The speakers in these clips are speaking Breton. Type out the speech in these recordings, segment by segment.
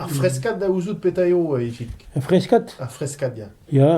Ar freskad da ouzout petra eo, Ifig. Ar freskad Ar freskad, ya. Ya,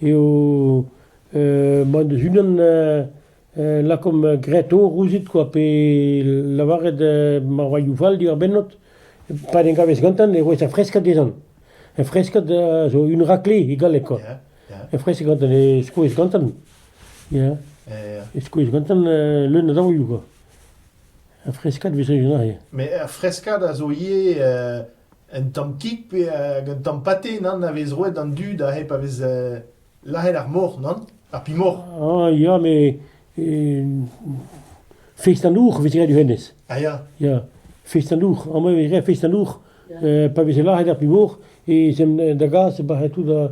eo euh, mod eus unan euh, euh, lakaomp greto rouzit quoi, pe lavaret euh, marvailhoù fall diwar bennot, pa en gavez gantan e roez ar freskad dezan. Ar freskad euh, zo un rakle e galleg quoi. Ya, ya. Ar freskad gantan e skoez gantan. Ya, e skoez gantan leun a daolioù kwa. Ar freskad 'vez sojet aze. Met ar freskad a zo ivez un tamm kig pe hag un tamm pate, nann, a vez roet d'an dud aze pa vez lazhet ar mor, nann? Ar pimor. Ah ya, met feist an dour 'vez graet du hennezh. Ah ya. Ya, feist an dour. Amañ 'vez graet feist an dour pa veze lazhet ar pimor e 'z em da gas e bac'he tout da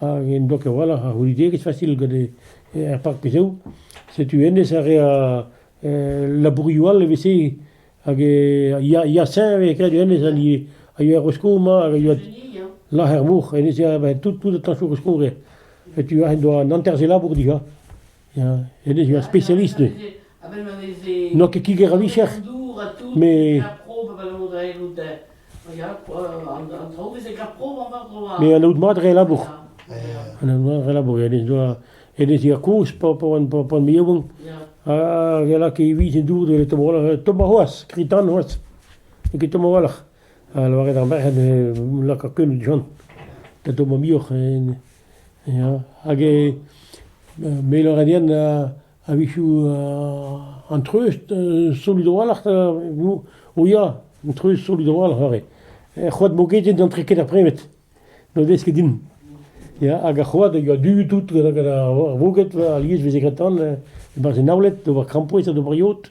hag en doa a-walc'h a c'hounidigezh fasil gant er parkoù-se. Setu hennezh a rea labourioù all evel-se hag ya-señv eo kavet hennezh a yoa er skourr-mañ hag a yoa lac'her-mor. Hennezh a tout, tout an tañsoù er skourr-se. Setu aze en doa an hanter-se labour dija. en eo ur spesialist eo. N'oa ket kiger a-vicher, met... Met anaout mat re labour. Anaout mat re labour. En doa en ez ea kozh pa an pa me yaouank. Ha re lak evit en dour de tombola tomba c'hoazh, kritan c'hoazh. N'eo ket tomba walc'h. Ha lavaret ar merc'hed eo lakaat keun du-hont da dom ar muioc'h ya hag mailerien a-wechoù an treust solut a-walc'h o ya an treust solut a-walc'h aze. Er c'hoad mogedien n'antre ket ar premet, na vez ket din. Ya hag ar c'hoad a yoa du tout gant ar voged alies 'veze graet tan e-barzh e naouled d'ober krampouezh ha d'ober yod.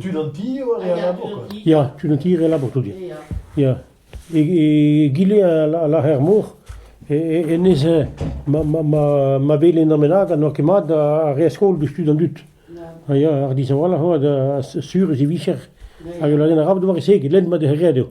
tud an ti eo a rea labour koa. Ya, tud an ti a rea labour tout, ya. Ya. Egile a lârer mor, hennezh, ma, ma, ma, ma welen an bennak ha n'oa ket mat a rea skol deus tud an dud. Ha ya, ar dishañvalc'h oa sur ez e vicher hag ul ladenn arab d'ober e-se, get lenn mat e rea dezho.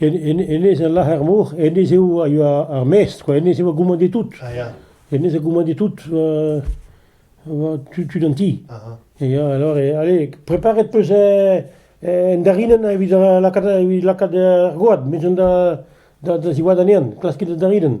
Hennezh a lâr er mor, hennezh eo a yoa ar maestr kwa, hennezh a oa goumant e tout. Ah ya. Hennezh a goumant e tout tud an ti. Ya, alors, allez, preparet 'peus en darinenn evit lakaat lakaat er goad, met da ziwad anezhan, klaskit da darinenn.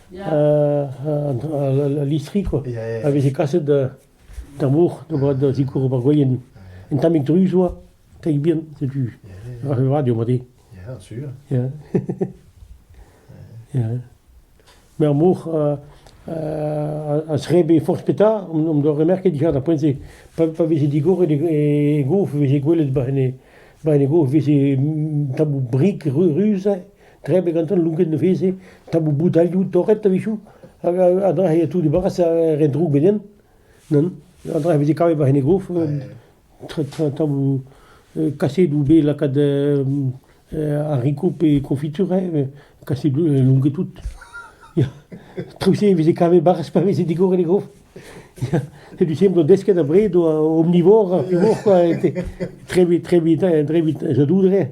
al listri quoi, a veze kaset d'ar mor da zikour ober gwaien. Un tammig druz oa, teig bihan, setu radio mat eo. Ja, sur. Ja. ja. Mais ar mor a srebe forzh petra, om doa remerket digar da poent-se, pa veze digor e gof, veze gwelet ba ene gof, veze tabou brik ruz, Krebiñ gantañ lonket ne veze, tamoù boudalioù torret a-wechoù, hag an dra a tout dibaras a re droug benien. An dra a veze kavet war en e gof, tamoù kasedoù bet lakaet haricots pe confiture, kasedoù lonket tout. Traoù-se e veze kavet baras pa veze digor en e gof. C'est du simple desket après, omnivore, omnivore quoi, trebi, trebi, trebi, je doudrais.